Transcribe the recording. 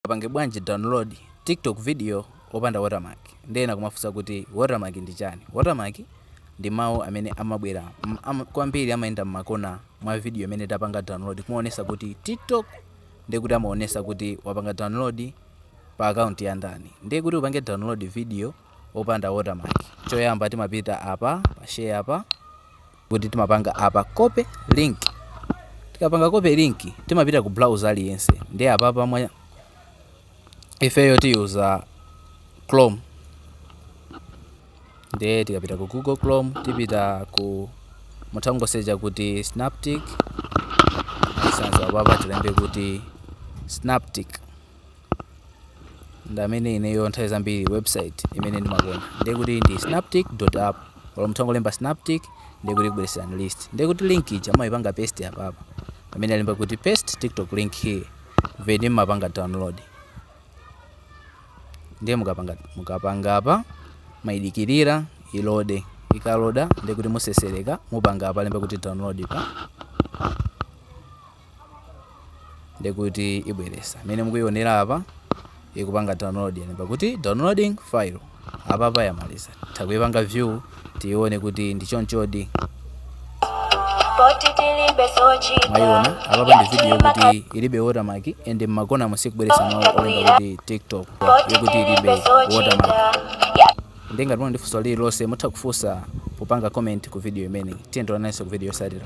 Mungapange bwanji download tiktok video opanda watermark ndi ena kumafunsa kuti watermark ndi chani? Watermark ndi mau amene amabwera kwambiri amayenda mmakona mwa video imene tapanga download kumaonesa kuti tiktok ndiye kuti amaonesa kuti wapanga download pa account ya ndani ndiye kuti upange download video opanda watermark choyamba timapita apa pa share apa kuti timapanga apa copy link tikapanga copy link timapita ku browser aliyense ndiye apapa ifeyo tiyuza chrome ndiye tikapita ku google chrome tipita ku mutangosecha kuti snaptik search bar pa tilembe kuti snaptik ndamene ineyo nthawi zambiri website imene ndimakonda ndiye kuti ndi snaptik app olo mutangolemba snaptik ndiye kuti ikubwereserani list ndiye kuti link ija mumayipanga paste apapa pamene alemba kuti paste tiktok link here then mmapanga download ndiye mukapanga mukapanga apa mayidikirira ilode ikaloda ndiye kuti musesereka mupanga apa alemba kuti download pa ndikuti ibweresa mene mukuyionera apa ikupanga download yalemba kuti downloading file apapa yamaliza titha kuyipanga view tiyione kuti ndi chonchodi mwayiona apapa ndi video kuti ilibe watermark and mmakona simukubweresa mawu olemba kuti tiktok yokuti ilibe watermark ndi ngati muli ndi funso lililonse mutha kufunsa popanga comment ku video imeneyi tidzaonananso ku video yosatira